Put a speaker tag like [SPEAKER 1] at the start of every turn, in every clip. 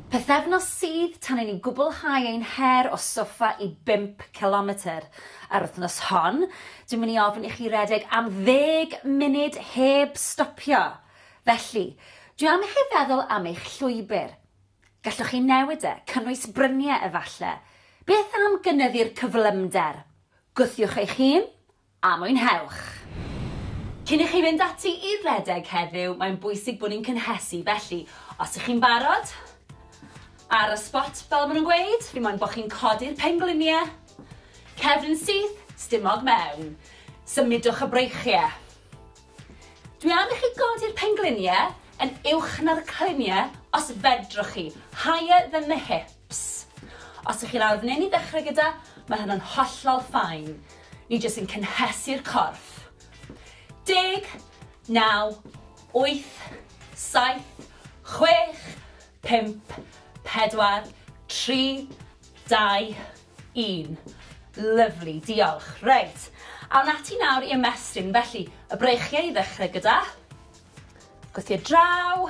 [SPEAKER 1] Pythefnos sydd tan i ni gwblhau ein her o soffa i bump cilometr. Yr wythnos hon, dwi'n mynd i ofyn i chi redeg am ddeg munud heb stopio. Felly, dwi am i chi feddwl am eich llwybr. Gallwch chi newid e, cynnwys bryniau efallai. Beth am gynyddu'r cyflymder? Gwthiwch eich hun, A mwynhewch! Cyn i chi fynd ati i redeg heddiw, mae'n bwysig bod ni'n cynhesu, felly os ych chi'n barod, ar y sbot fel maen nhw'n gweud, fi moyn bod chi'n codi'r pengliniau, cefn yn syth, stumog mewn, symudwch y breichiau. Dwi am i chi godi'r pengliniau yn uwch na'r cliniau os fedrwch chi, higher than the hips. Ps. Os ych chi'n arnyn i ddechrau gyda, mae hynna'n hollol fine. Ni jyst yn cynhesu'r corff. Deg, naw, wyth, saith, chwech, pump, pedwar, tri, dau, un. Lyfli, diolch. Reit, awn ati nawr i ymestyn. Felly, y breichiau i ddechrau gyda. Gwthio draw.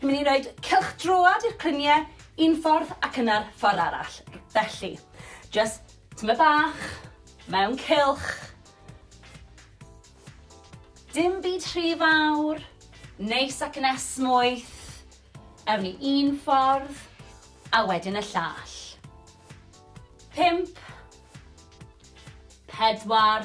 [SPEAKER 1] Ni'n mynd i roed cylch droad i'r clynie un ffordd ac yna'r ffordd arall. Felly, just tyma bach, mewn cylch. Dim byd rhy fawr, neis ac yn esmwyth. Ewn ni un ffordd, a wedyn y llall. Pimp. Pedwar.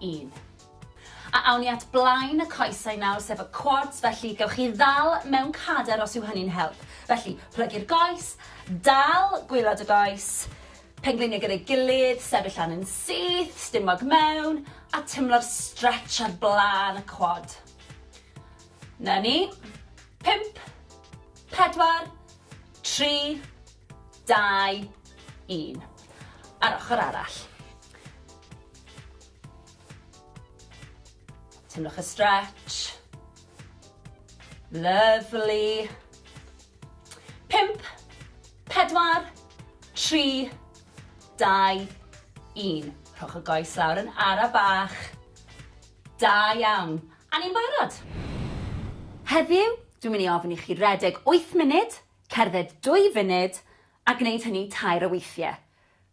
[SPEAKER 1] un. A awn ni at blaen y coesau nawr, sef y quads, felly gewch chi ddal mewn cader os yw hynny'n help. Felly, plygu'r goes, dal gwylod y goes, pengliniau gyda'i gilydd, sefyll lan yn syth, stumog mewn, a tymlo'r stretch ar blaen y quad. Na ni. 5, 4, 3, 2, 1. Ar ochr arall. Tynnwch y stretch. Lovely. Pimp, pedwar, tri, dau, un. Rhowch y goes lawr yn ara bach. Da iawn. A ni'n barod. Heddiw, dwi'n mynd i ofyn i chi redeg 8 munud, cerdded 2 funud, a gwneud hynny tair o weithiau.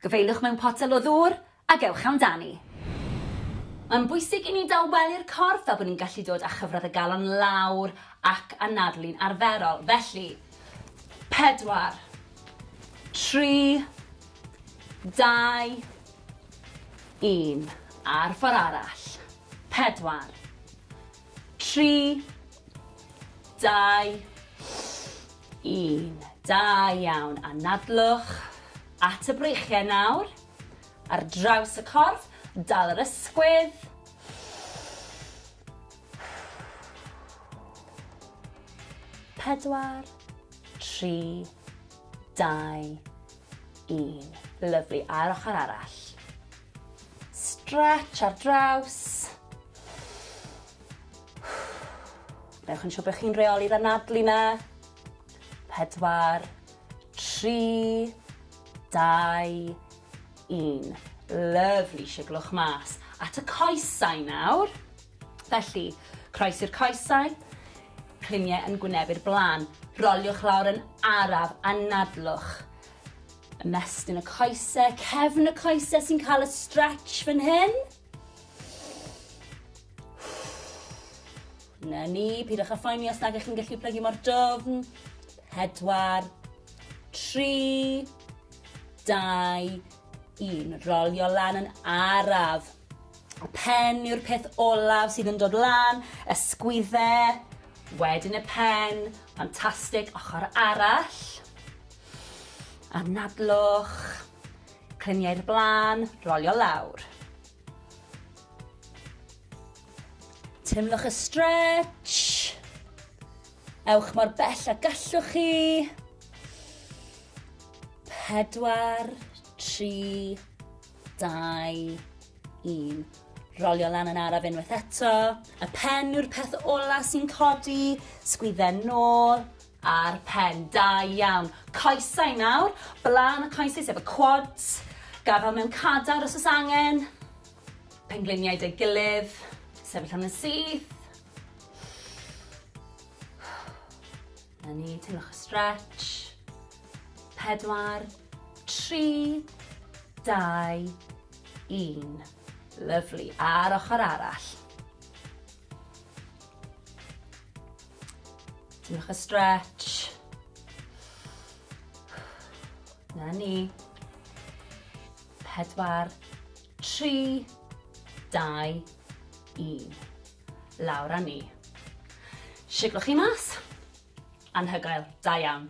[SPEAKER 1] Gyfeiliwch mewn potel o ddŵr ac ewch amdani. Mae'n bwysig i ni dawelu'r corff fel bod ni'n gallu dod â chyfradd y galon lawr ac anadlu'n arferol. Felly, pedwar, tri, dau, un. A'r ffordd arall. Pedwar, tri, dau, 1. Da iawn. Anadlwch at y breichiau nawr. Ar draws y corff, dal yr ysgwydd. Pedwar, tri, dau, un. Lyflu, a'r ochr arall. Stretch ar draws. Newch yn siŵr bod chi'n reoli'r anadlu 'na. Pedwar, tri, dau, un. Lyfli, siglwch mas. At y coesau nawr. Felly, croes i'r coesau, cliniau yn gwynebu'r blaen. Roliwch lawr yn araf, anadlwch. Ymestyn y coesau, cefn y coesau sy'n cael y stretch fan hyn. Na ni, pidwch â phoeni os nag ych chi'n gallu plygu mor dofn. Pedwar, tri, dau, un. Rolio lan yn araf. Y pen yw'r peth olaf sydd yn dod lan, y sgwydde, wedyn y pen, ffantastig, ochr arall. Anadlwch, Clymu i'r blaen, rolio lawr. Teimlwch y stretch. Ewch mor bell a gallwch chi. Pedwar, tri, dau, un. Rolio lan yn araf unwaith eto. Y pen yw'r peth ola sy'n codi. Sgwydden nôl. Ar pen, da iawn. Coesau nawr, blaen y coesau sef y quads, gafal mewn cadar os oes angen, pengliniau deg gilydd, sefyll am yn syth. Na ni, teimlwch y stretch. Pedwar, tri, dau, un. Lyflu, a'r ochr arall. Diolch y stretch. Na ni. Pedwar, tri, dau, un. Lawr a ni. Siglwch chi mas. Anhygoel, da iawn.